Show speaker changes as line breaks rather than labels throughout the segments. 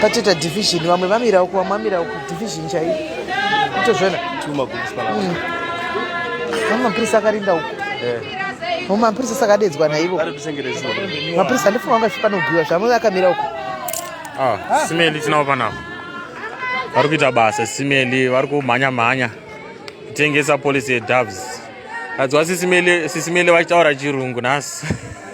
patoita division vamwe vamira uku vamwe vamira uku division chaiyo itozvona vamwe mapurisa akarinda uku vamwe mapurisa sakadedzwa naivo mapurisa handifunga vanga zvipanobhuiwa zvamwe akamira uku ah,
simeli tinavo panavo vari kuita basa simeli vari kumhanya mhanya kutengesa polisi yedoves adzwa sisimeli vachitaura chirungu nhasi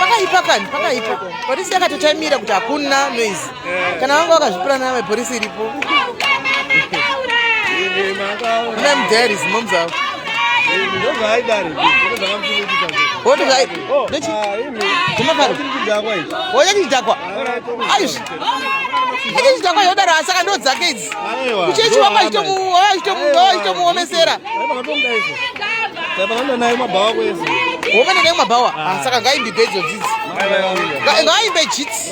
pakaipa kani pakaipa polisi yakatotaimira kuti hakuna noise kana vanga vakazvipira nayo mapurisi iripo mem there is moms avo oyachichidhakwa aizvi achichidhakwa yodaro asi aka ndo dzake idzi kuchechi wako achitomuomesera home nayo mabhawa asi aka ngaimbibe idzo dzidzi ngaimbe jits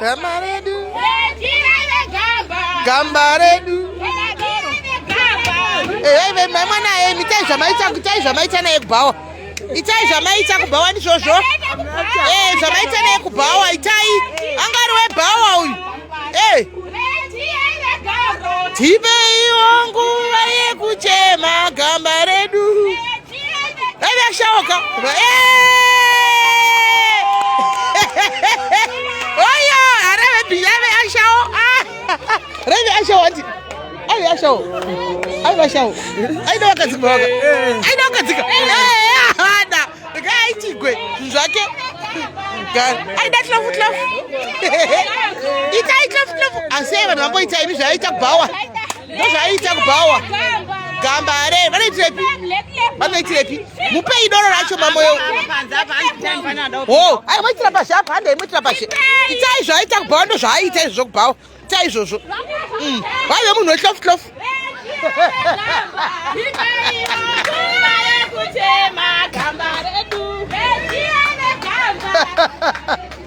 Gamba redu. Gamba redu. Ehe ve mai mwana yemi itai zvamaita itai zvamaita naye kubhawa. Itai zvamaita kubhawa ndizvozvo. Eh zvamaita naye kubhawa itai. Angari we bhawa uyu. Eh. Tipe iwo nguva yekuchema gamba redu. Shaoka. Oyo, arebe biyabe ashao. Rebe ashao ati. Ai ashao. Ai ashao. Ai dawa kadzika baka. Ai dawa kadzika. Eh, hada. Kai chigwe zvake. Ai da tlafu tlafu. Ita ita tlafu. Asi vanhu vangoita ini zvaita bhawa. ndozvaiita kubhawa gamba hare vanoitirepi vanoitirepi mupei doro racho mamoyo o ai moitira pashi apa hande imoitira pashi itai zvaiita kubhawa ndo zvaiita izvo zvokubhawa itai izvozvo mm. vaive munhu wehlofu hlofu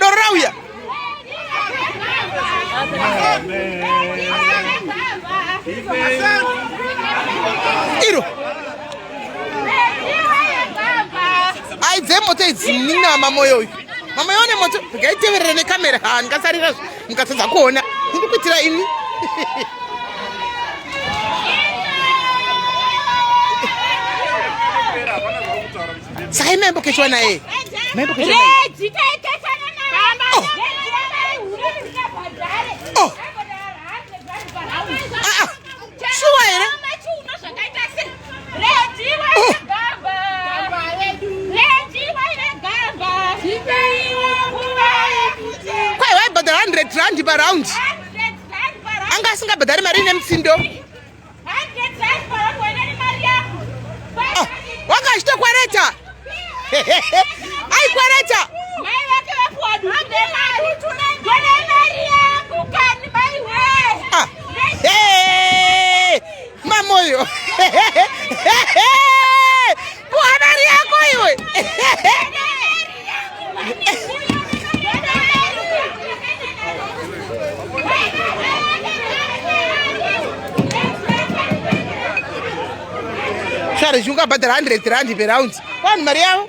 Doro rauya. Iro. Aidze moto idzi nina mamoyo uyu. Mamoyo ne moto. Gaiteverere ne kamera. Ha, ndikasarira. mukatadza kuona ndiri kuitira ini saka imaimbokeshwa naye maimbokeshwa kwai waibhadhara 100 rand paround anga asingabhadhari mari ine mutsindo oh, wanga achitokwereta aikwereta Mamoyo. Habari yako iwe. Sare, zvingabhadhara 100 rand per round. Kwani mari yavo?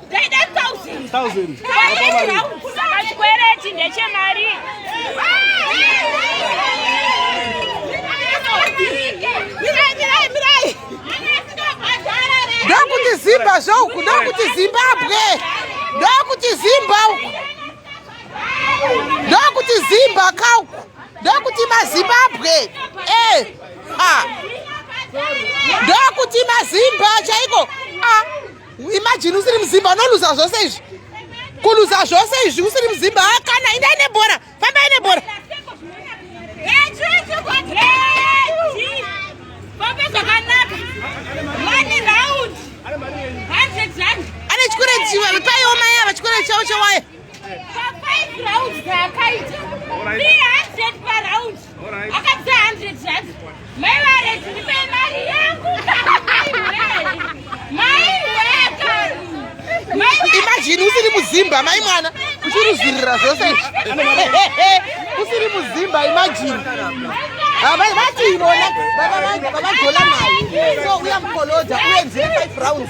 Chikwereti ndechemari. Ndokuti Zimba zvoku, ndokuti Zimbabwe, ndokuti Zimba uku, ndokuti Zimba kauku, ndokuti maZimbabwe, eh, ah, ndokuti maZimba chaiko, ah. imagine usiri muzimba unoluza zvose izvi kuluza zvose izvi usiri muzimba ah, kana indai nebhora fambai nebhora ane chikure chiwa paiwo mai ava chikure chavo chewaya imajini usiri muzimba mai mwana uchirizvirira zvose usiri muzimba imajini vati ivona vavagola nayo so uya mukoloja uye nzire 5 rounds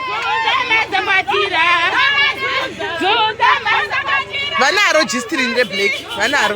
vanaro jistirini reblack vanaro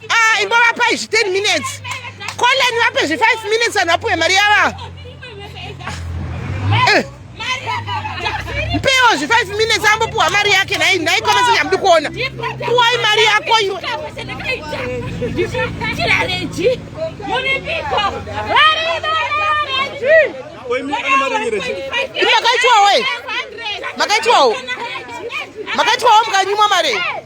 Ah, imbovapai zvi 10 minutes coleni vape zvi 5 minutes vanhu vapuwe mari yava ah. eh. mpewo zvi 5 minutes ambopuwa mari yake nhai nhai komese nyamudi kuona puwai mari yako iwe makaitwawo makaitwawo makaitwawo mukanyimwa mari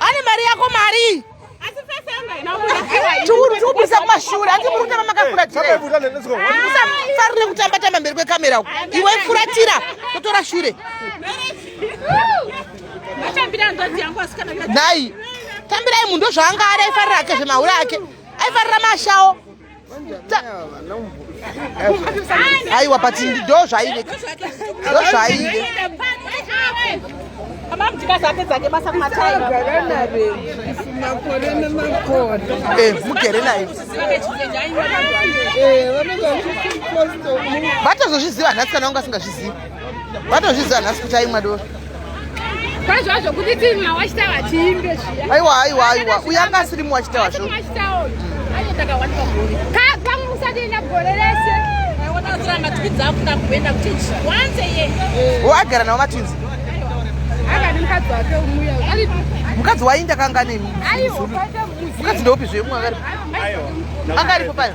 Ane mari yako mari. Asi face yanga inabuda. Churu churu kusa kumashure. Ati muri kutamba makakura tire. Musa farire kutamba tamba mberi kwekamera uko. Iwe furatira kutora shure. Matambira ndozi yangu asikana. Dai. Tambirai munhu ndozvaanga ari aifarira ake zvemahure ake. Aifarira mashawo. aiwa but ndo zvaive ndo zvaive eh, mugere naye vatozozviziva nhasi kana wanga asingazvizivi vatozviziva nhasi kuti aimwa doro kwazvazvo
kuti timwa wachitawa tiimbe zviya aiwa aiwa aiwa uyo anga
asiri mwa wachitawa zvo kagwangu kusatienda gore rese agara navo matwinzi mukadzi wainda kanga nemukadzi ndeupi zvemwa anga aripo payo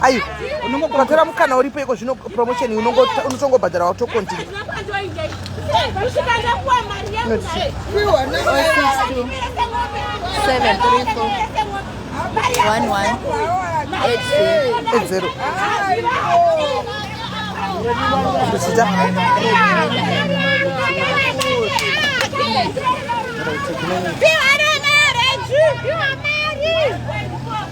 aiwa
unongobhadhara mukana uripo iko zvino promotion unotongobhadhara watokontinua edzero zita Piu, are marriage! Piu, are marriage!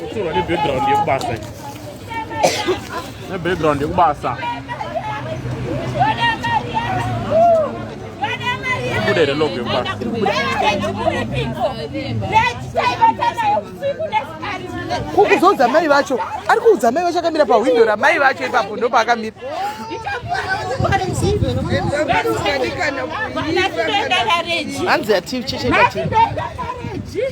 Kutorwa nebackground yekubasa nebackground yekubasa ibude here logo yekubasa
kukuzoudza mai vacho ari kuudza mai vacho akamira pahwindo ramai vacho ipapo ndopaakamira hanzi yatichechekati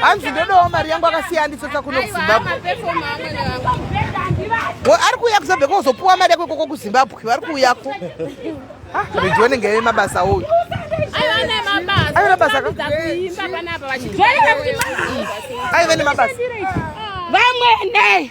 hanzi ndodawo mari yangu akasiya nditsotsa kuno kuzimbabwe ari kuuya kuzabve kozopuwa mari yako koko kuzimbabwe vari kuuyako reji wanenge ave mabasa uyu aive nemabasa vamwene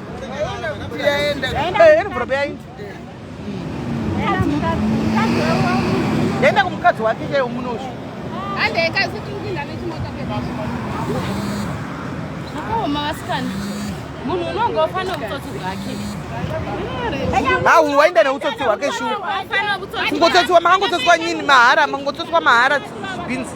yaenda kumukadzi wake chaiwo munoshu zvakaoma vasikana munhu unonga ufana utsotsi hwake hahu
waenda neutsotsi hwake shu kungotsotsiwa makangotsotsiwa nyini mahara mangotsotsiwa mahara bhinzi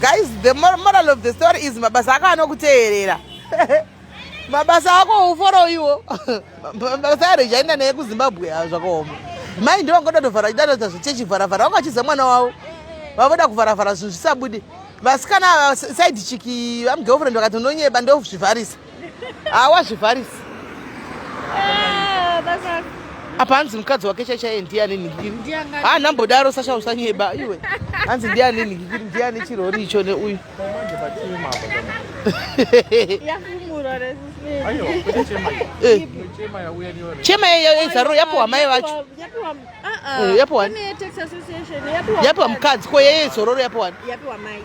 guys the moral of the story is mabasa ako anokuteerera mabasa ako uforo iwo mabasa aro ichaenda neye kuzimbabwe a zvakaoma mai ndivo ngoda tovhara idatoita zvichechivharavhara vanga vachiza mwana wavo vavoda kuvharavhara zvinhu zvisabudi vasikana saidi chiki vamugirlfriend vakati ndonyeba ndozvivharisa hawazvivharisi ah, apa hanzi mukadzi wake chaichaye ndiani nhinhikiri ha nambodaro sasha usanyeba iwe hanzi ndiani nhinhikiri ndiani chirori icho neuyu eh. chema yezaruro yapowa mai vacho yapowa eh, mukadzi ko yeye zororo yapowa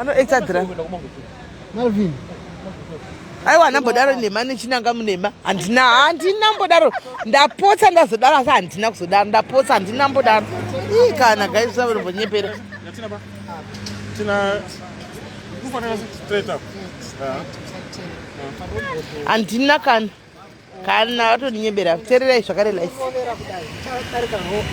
anoexadra malvin aiwa handambodaro nhema nechinanga munhema handina handina mbodaro ndapotsa ndazodaro asi handina kuzodaro ndapotsa handina mbodaro ii kana gaisa vanombonyepera handina kana kana vatoninyebera tererai zvakare life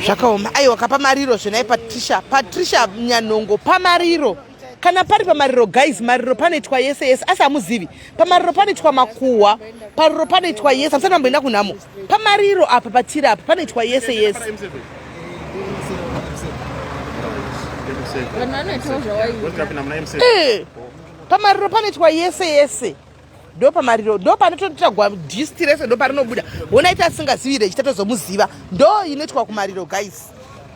zvakaoma aiwa kapamariro zvenai patricia patricia nyanhongo pamariro kana pari pamariro guys mariro panoitwa yese yese asi hamuzivi pamariro panoitwa makuhwa pariro panoitwa yese hamusati mamboenda kunhamo pamariro apa patiri apa panoitwa yese yese eh, pamariro panoitwa yese yese ndopamariro ndopanotoita gist rese ndoparinobuda ona ita asingazivi rechi tatozomuziva ndo inoitwa kumariro guys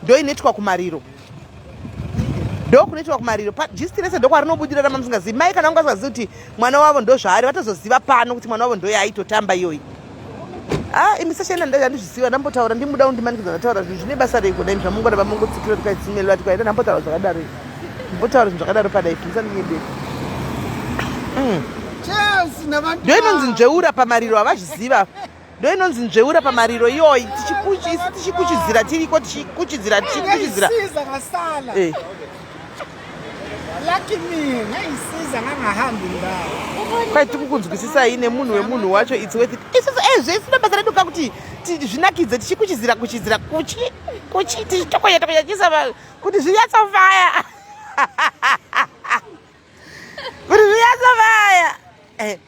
ndo inoitwa kumariro ndo kunoitwa kumariro gist rese ndokwarinobudira rama musingazivi mai kana ungazivazivi kuti mwana wavo ndozvaari vatozoziva pano kuti mwana wavo ndoyaitotamba iyoyi Ah, imi sashaina ndanga ndizvisiva ndambotaura ndimuda undimanikidza ndataura zvinhu zvine basa rei kudai zvamungona vamongotsikira tikaitsimelwa tikaita ndambotaura zvakadaro mbotaura zvinhu zvakadaro padai musandinyebeku mm. ndo inonzi nzveura pamariro havazviziva ndo inonzi nzveura pamariro iyoyi tichikuchidzira tiriko tichikuchidzira tichikuchidzira
kwai tikukunzwisisai
nemunhu wemunhu wacho its worth it isusu e zvese nabasa redu ka kuti zvinakidze tichikuchizira kuchizira kuchi kuchi tichitokonya tokonya chisa kuti zvinyatsovaya kuti zvinyatsovaya eh,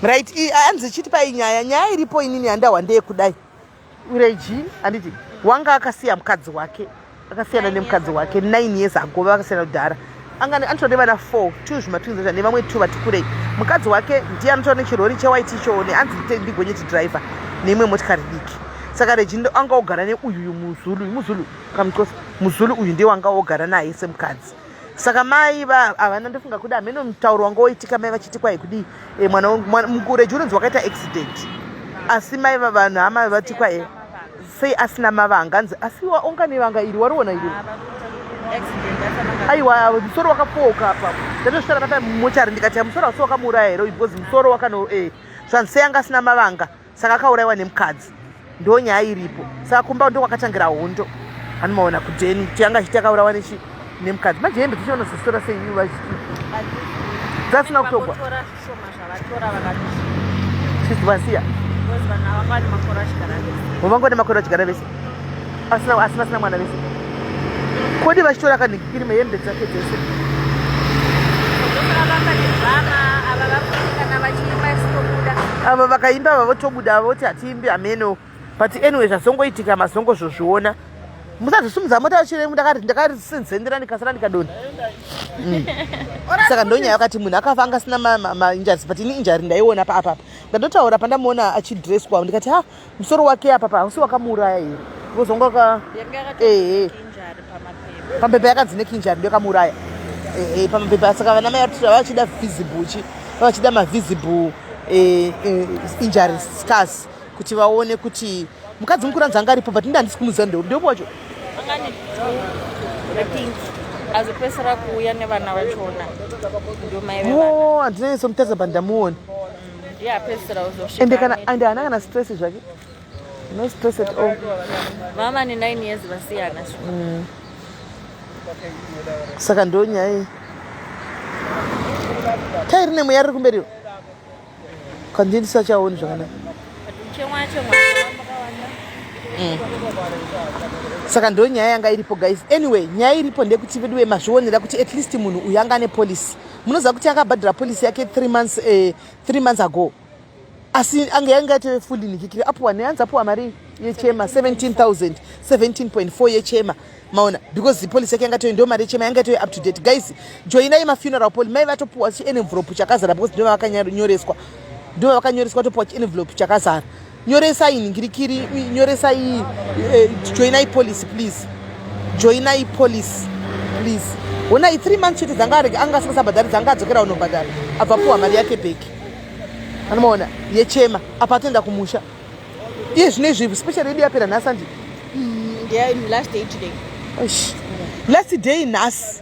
right hanzi ichiti pai nyaya nyaya iripo inini yandahwa ndeyekudai ureji handiti wanga akasiya mukadzi wake akasiyana nemukadzi wake nine years ago vakasiyana kudhara angani anotova nevana four two zvimatwinzaa nevamwe two vati kurei mukadzi wake ndiye anotova nechirori chewhite ichoone anzi ndigonyeti driver neimwe motikari diki saka reji anga ogara neuyu uyu muzulu uyu muzulu kamucosa muzulu uyu ndiye wanga ogara naye semukadzi saka mai va havana ndofunga kuda hameno mutauro wanga woitika mai vachiti kwai kudii e, mwana mukureji unonzi wakaita accident asi mai vavanhu hama vati kwae sei asina mavanga anzi asi waonga nevanga iri wariona iri aiwa musoro wakapooka apa ndatosvitara kata mumochari ndikati musoro wasi wakamuuraya here because musoro wakano e eh, zvanzi sei anga asina mavanga saka akauraiwa nemukadzi ndo nyaya iripo saka kumba ndo kwakatangira hondo anomaona kudeni kuti anga achiti akaurawa nechi nemukadzi manje hembe dzichiona zositora sei ivo vachiti dzasina kutogwa vasiya vangode makore vachigara vese asina asina asina mwana vese kodi vachitora kanhikikirima hembe dzake dzese ava vakaimba ava votobuda ava voti hatiimbi hameno but anyway zvazongoitika mazongo zvozviona musazvisumudza mota vachiremu ndakarisinzendera ndikasara ndikadona mm. saka ndonyaya yakati munhu akafa angasina mainjari but ini injari ndaiona paapapa ndandotaura pandamuona achidresswa ndikati ha musoro wake apapa hausi wakamuuraya here vozonga waka ehe pambepa yakanzi nekinjari ndiyo kamuuraya ehe pambepa saka vana mai vatira vachida visible chi vachida mavisible eh, eh, injury scars kuti vaone kuti mukadzi mukuru anzi anga aripo but ndi handisi kumuziva ndeu ndeupo wacho
azopesera kuuya nevana vachona ndomaioo oh,
handinaiso mutadza bandamuoni ende kana ande haana kana stress zvake no stress at all mama ne 9
years vasiyana mm.
saka ndo nyaya iyi tairi nemweya riri kumberiwo kandii ndisachaoni zvakanaka mm. saka ndo nyaya yanga iripo guys anyway nyaya iripo ndekuti veduwe mazvionera kuti at least munhu uyu anga ane policy munoziva kuti akabhadhira policy yake three months eh, three months ago asi ange yange ateve fully nikikiri apuwa neyanzi apuwa mari yechema 17000 17.4 yechema maona because the policy yake yanga toyo ndo mari yechema yanga toyo up to date guys joinai mafuneral poli mai vatopuwa chienvelope chakazara because ndovavakanyoreswa ndovavakanyoreswa topuwa chienvelope chakazara nyoresai nhingirikiri nyoresai eh, joinai policy please joinai policy please honai three months chete dzanga arege anga asingasabhadhari dzanga adzokera unobhadhara abva puwa mari yake bheki anomaona yechema apa atoenda kumusha iye zvino izvi special yedu yapera nhasi andi mm, last day nhasi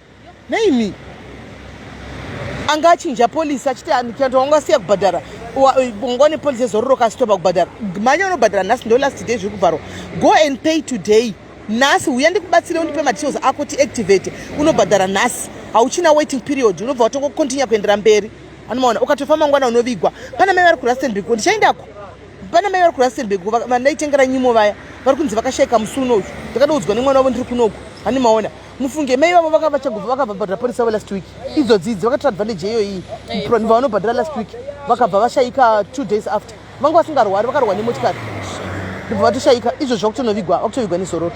Nei me? Anga achinja police achiti andikanto wanga siya kubhadhara. Wanga ne police zororo kasi toba kubhadhara. Manya unobhadhara nhasi ndo last day zviri kubvarwa. Go and pay today. Nhasi huya ndikubatsire undipe ma details ako ti activate unobhadhara nhasi. Hauchina waiting period unobva watongo continue kuendera mberi. Anomaona ukatofa mangwana unovigwa. Pana mai vari ku Rustenburg ndichaendako. Pana mai vari ku Rustenburg vandaitengera nyimo vaya vari kunzi vakashaika musi unoyu. Ndakadoudzwa nemwana wavo ndiri kunoku. Anomaona. mufunge mai vavo vakava chagova vakavabhadhira porisa vo last week idzo dzidzi vakatora advantage yeyo iyi vanhu vanobhadhira last week vakabva vashaika two days after vanga vasingarwari vakarwa nemotikari ndibva vatoshaika izvo zvakutonovigwa vakutovigwa nezororo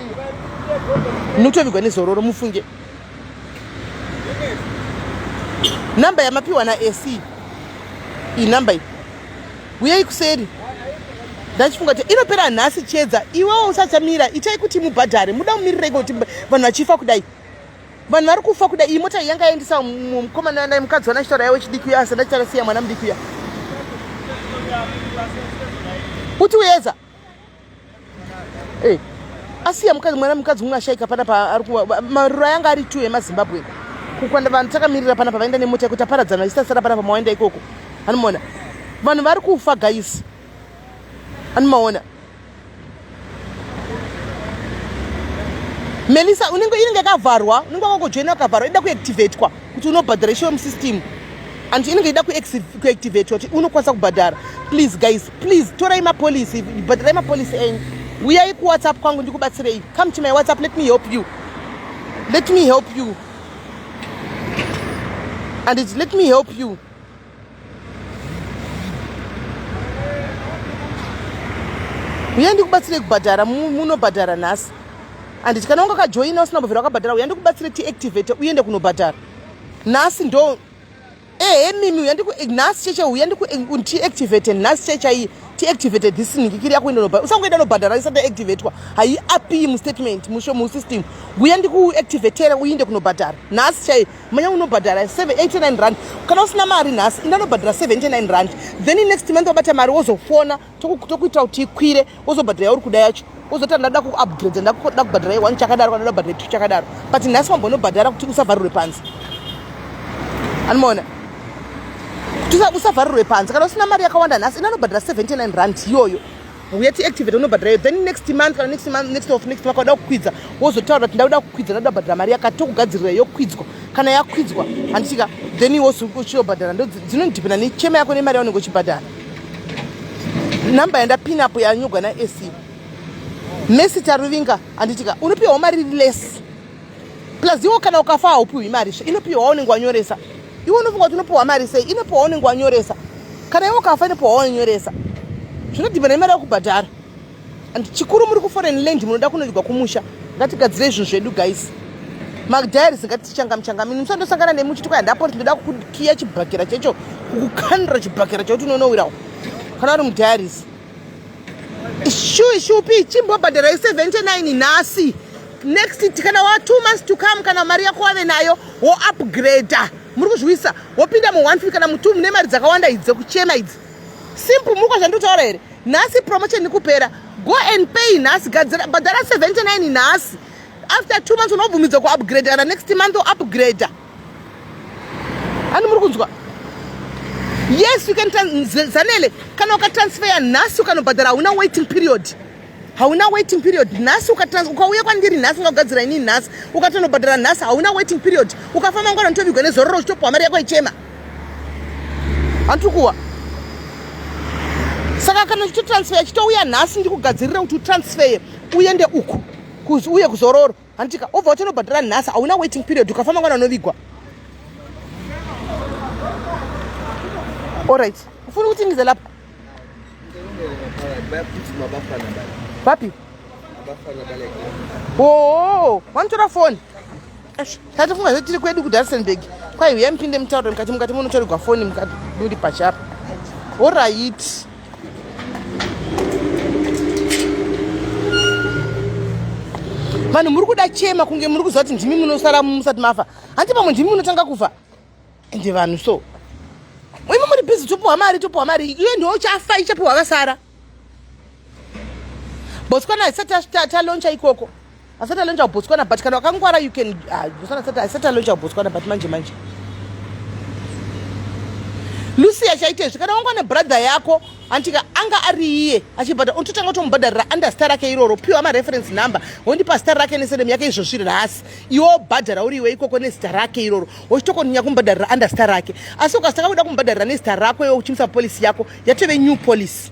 nokutovigwa nezororo mufunge number yamapiwa naec inumber iyi huyai kuseri ndachifunga kuti inopera nhasi chedza iwewo usachamira itai kuti mubhadhare muda mumirireiko kuti vanhu vachifa kudai vanhu vari kufa kudai iyi mota yanga yaendesa mukomana wandai mukadzi wana chitaura yavo chidiki uya asi ndachitasiya mwana mudiki uya kuti uyeza Hey. Eh, asiya mukadzi mwana mukadzi umwe ashaika pana paari kuwa maruro ayanga ari two emazimbabwe kukwanda vanhu takamirira pana pavaenda nemota yekuti aparadzana vachisasara pana pamawaenda ikoko anomaona vanhu vari kufa gaisi anomaona melisa unenge inenge yakavharwa unenge wakogojoina wakavharwa ida kuactivatwa kuti unobhadhara ishowe musystem and inenge ida kuactivate kuti unokwanisa kubhadhara please guys please torai mapolicy bhadharai mapolicy enyu uyai kuwhatsapp kwangu ndikubatsirei come to my whatsapp let me help you let me help you and let me help you uya ndikubatsire kubhadhara munobhadhara nhasi anditi kana wanga kajoina usina kubvira wakabhadhara uya ndikubatsire tiactivate uende kunobhadhara nhasi ndo ehe mimi uya ndiku nhasi cheche uya ndiku tiactivate nhasi chechaiyi tiactivate this nhikikiri yako enda nobhadhara usangoenda nobhadhara isati activatwa haiapi mustatement musho musystem uya ndikuactivatera uinde kunobhadhara nhasi chaiyi manya unobhadhara 89 rand kana usina mari nhasi indanobhadhara 79 rand then next month wabata mari wozofona tokuitira kuti ikwire wozobhadhara yauri kuda yacho wozoti ndada kuupgrade ndakuda kubhadhara one chakadaro kana ndabhadhara two chakadaro but nhasi wambonobhadhara kuti usavharirwe panze anomaona kuti usavharirwe panze kana usina mari yakawanda nhasi indanobhadhara 79 rand iyoyo uye tiactivate unobhadhara iyo then next month kana next month next of next makauda kukwidza wozotaura kuti ndauda kukwidza ndakuda kubhadhara mari yakati tokugadzirira yokwidzwa kana yakwidzwa handitika then iwe uchiobhadhara ndo dzinondipina nechema yako nemari yaunenge uchibhadhara number yandapin apo yanyogwa naec mesi taruvinga handitika unopiwawo mari less plus iwo kana ukafa haupiwi mari zve inopiwa waunenge wanyoresa iwe unofunga kuti unopiwa mari sei inopiwa waunenge wanyoresa kana iwe ukafa inopiwa waunyoresa zvinodhibana imari yakubhadhara and chikuru muri kuforeign land munoda kunodygwa kumusha ngatigadzire izvinhu zvedu guys madiaries ngatichangamchangam ini musandosangana nemi uchiti kwayandapoti ndoda kukiya chibhakera checho kukukandira chibhakera chekuti unonowirawo kana uri mudiaries shuwi shupi chimbobhadhara i79 nhasi next kana wa two months to come kana mari yako wave nayo wo upgrader muri kuzviwisa wopinda mu one kana mu two mune mari dzakawanda idzi dzekuchema idzi simple muri kwazvanditaura here nhasi promotion ikupera go and pay nhasi gadzira bhadhara 79 nhasi after two months unobvumidzwa kuupgrader kana next month upgrader ani muri kunzwa yes you can zanele kana ukatransfeya nhasi ukanobhadhara hauna waiting period hauna waiting period nhasi ukauya kwandiri nhasi ungagadzira ini nhasi ukatonobhadhara nhasi hauna waiting period ukafamba ngwana nditovigwa nezororo uchitopuwa mari yako ichema handikuwa saka kana uchitotransfeya chitouya nhasi ndikugadzirira kuti utransfeye uende uku uye kuzororo handitika obva utonobhadhara nhasi hauna waiting period ukafa mangwana unovigwa orit ufuni kuti ndize lapa vapi oo wanotora foni tatifunga zve tiri kwedu kudarsenburg kwai huya mupinde mutauro mukati mukati munotorigwa foni mukati muri pachapa orit vanhu muri kuda chema kunge muri kuziva kuti ndimi munosara musati mafa hanti pamwe ndimi munotanga kufa ende vanhu so imi muri busy topiwa mari topiwa mari iye ndiwo chafa ichapiwa vasara botswana haisati taloncha ikoko asati alonja kubotswana but kana wakangwara you can ah, asati alonja kubotswana but manje manje lucia chaite izvi kana wangwa nebrother yako antika anga ari iye achibhadhara unototanga utomubhadharira under star rake iroro piwa mareference number wondipa star rake nesedem yake izvozvi rasi iwo bhadhara uri iwe ikoko nezita rake iroro wochitokoninya kumubhadharira under star rake asi ukasitanga kuda kumubhadharira nezita rako iwe uchimisa polisi yako yatove new policy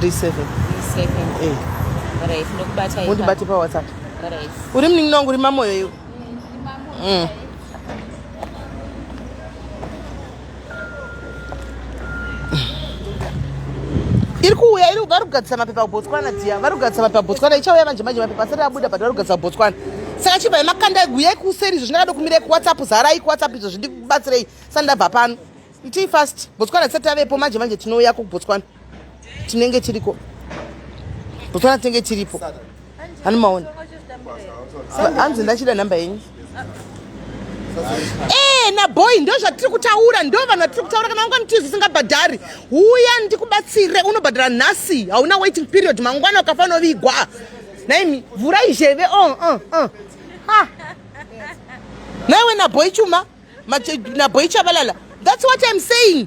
37 pawhatsapp
uri
munin'ina wangu uri
mamoyo iwe mm. iri kuuya iri vari kugadzisa mapepa kubotswana dziya vari kugadzisa mapepa kubotswana ichauya manje manje mapepa asati abuda but vari kugadzisa kubotswana saka chibva nemakanda eguyai kuseri izvo zvindakada kumirei kuwhatsapp zarai kuwhatsapp izvo zvindikubatsirei sandabva pano itii fast botswana tisati tavepo manje manje tinouya kubotswana tinenge tiriko botswana tinenge tiripo hani maona hanzi ndachida nhamba yenyu ee eh, naboy ndo zvatiri kutaura ndo vanhu vatiri kutaura kana mangwana tizi usingabhadhari huya ndikubatsire unobhadhara nhasi hauna waiting period mangwana ukafanovigwa naimi vhurai zheve o oh, uh, oh, uh. Oh. ha naiwe naboy chuma nabhoi chabalala thats what im saying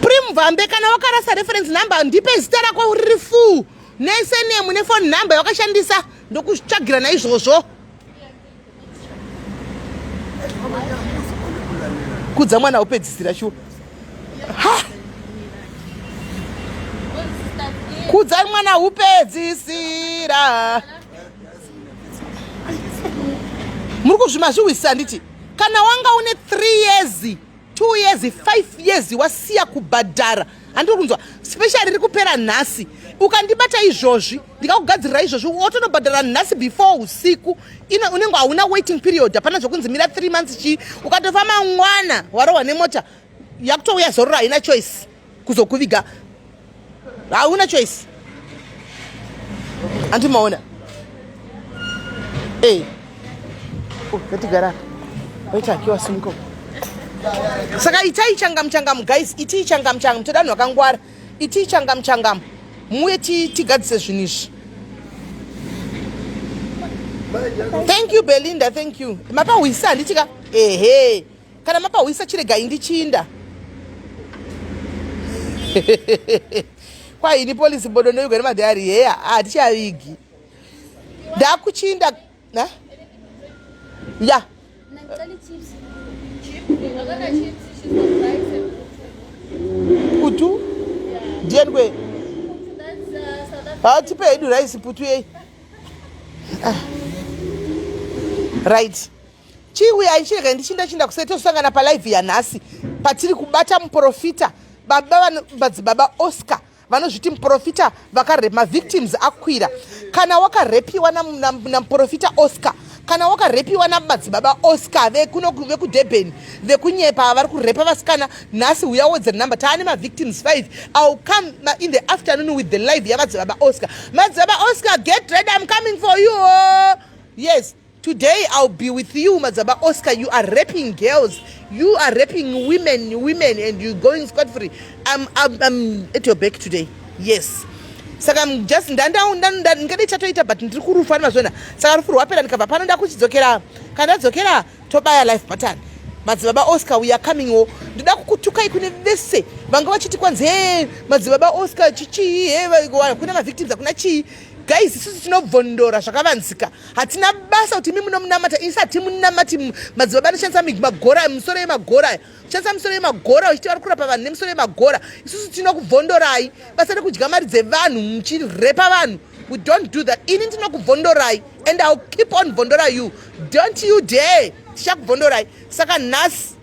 prim vambe kana wakarasa reference number ndipe zita rako uriri fuu nesenemu nefoni number yawakashandisa ndokutsvagira naizvozvo kudza mwana wopedzisira shuwa kudzai mwana upedzisira muri kuzvimazviwisisa handiti kana wanga une three years two years five years wasiya kubhadhara handiri kunzwa special riri kupera nhasi ukandibata izvozvi ndikakugadzirira izvozvi wotonobhadhara nhasi before usiku ino unenge hauna waiting period hapana zvokunzi mira three months chii ukatofa mangwana warohwa nemota yakutouya zororo haina choice kuzokuviga hauna choice anti maona e oh, ngatigara waita akiwa simuka saka itai changamu changamu guys itii changamu changamu toda vanhu vakangwara itii changamu changamu muye tigadzise zvinhu izvi thank you belinda thank you mapahwisa handitika ehe Kana mapahwisa chiregai ndichinda. Kwa ini police bodo ndoigwa nemadhari heya hatichavigi. Ndakuchinda na? Ya. Kutu? Ndiye ndwe. Ah, tipe hedu rice putu yei. Ah. Right. Chii uye aichirega ndichinda chinda kuseri tosangana palive yanhasi patiri kubata muprofita baba vano madzibaba Oscar vanozviti muprofita vakarepa mavictims akwira kana wakarepiwa namuprofita oscar kana wakarepiwa namadzibaba oscar vekuno vekudurban vekunyepa ava vari kurepa vasikana nhasi huya wodzer number taane mavictims 5 ill come in the afternoon with the live yamadzibaba oscar madzibaba oscar get red im coming for you yes Today I'll be with you Madzaba Oscar you are raping girls you are raping women women and you going scot free I'm, I'm, I'm at your back today yes saka just ndingade chatoita but ndiri kurufu ani mazvona saka rufu rwapera ndikabva pano ndakuchidzokera kana ndadzokera tobaya life button madzibaba oscar we are coming wo ndoda kukutukai kune vese vanga vachiti kwanzi he madzibaba oscar chichii he kune mavictims akuna chii guys isusu tinobvondora zvakavanzika hatina basa kuti imi munomunamata isi hatimunamati madzibaba anoshandisa magora misoro yemagora aya ushandisa misoro yemagora uchiti vari kurapa vanhu nemisoro yemagora isusu tinokubvondorai basa rekudya mari dzevanhu muchirepa vanhu we don't do that ini ndinokubvondorai and ill keep on bvondora you don't you dare tichakubvondorai saka nhasi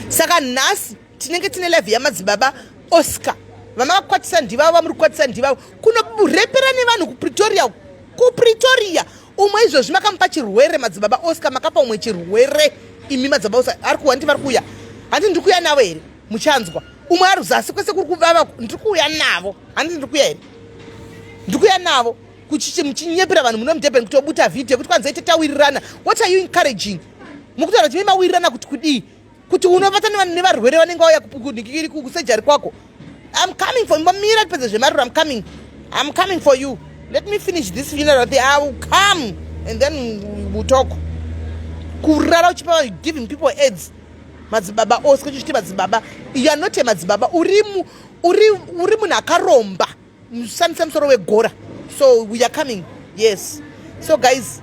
saka nhasi tinenge tine live yamadzibaba oscar vamakakwatisa ndivavo vamuri kukwatisa ndivavo kunorepera nevanhu kupretoria kupretoria umwe izvozvi makamupa chirwere madzibaba oscar makapa umwe chirwere imi madzibaba oscar ari kuwa ndi vari kuuya handi ndiri kuuya navo here muchanzwa umwe ari zasi kwese kuri kuvava ndiri kuuya navo handi ndiri kuuya here ndiri kuuya navo kuchichi muchinyepera vanhu muno mudurban kuti obuta vhidhiyo kuti kwanza ite tawirirana what are you encouraging mukutaura kuti maimawirirana kuti kudii kuti unovatana nevarwere vanenge vauya kusejari kwako I'm coming for you. Mamira pese zvemariro I'm coming. I'm coming for you. Let me finish this funeral thing. I will come and then we'll talk. Kurara uchipa giving people aids. Madzibaba ose kuchiti madzibaba. You are not a madzibaba. Urimu uri uri munhu akaromba. mushandise musoro wegora so we are coming yes so guys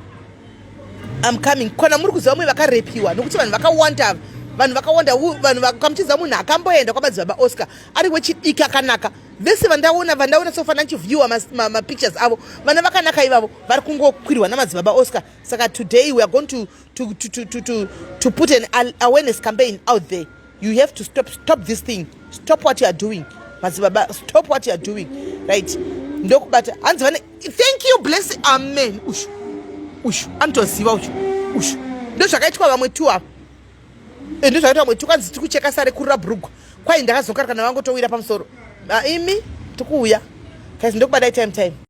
I'm coming kana muri kuziva vamwe vakarepiwa nokuti vanhu vakawanda vanhu vakawanda vanhu vakamuchiziva munhu akamboenda kwamadzibaba oscar ari wechidiki akanaka vese vandaona vandaona sofana ndichiviewa mapictures ma, ma avo vana vakanaka ivavo vari kungokwirwa namadzibaba oscar saka today weare going to, to, to, to, to, to, to put an awareness campaign out there you have to stop stop this thing stop what you are doing madzibaba stop what you are doing right ndokubata hanzi vane thank you bless amen ushu ushu anotoziva ushu ushu ndozvakaitwa vamwe tu ava eh, ndozvakaitwa vamwe tu kwanzi tiri kucheka sare kurira brugwa kwai ndakazokarikana vangotowira pamusoro ah, imi tikuuya kaizi ndokubadai time time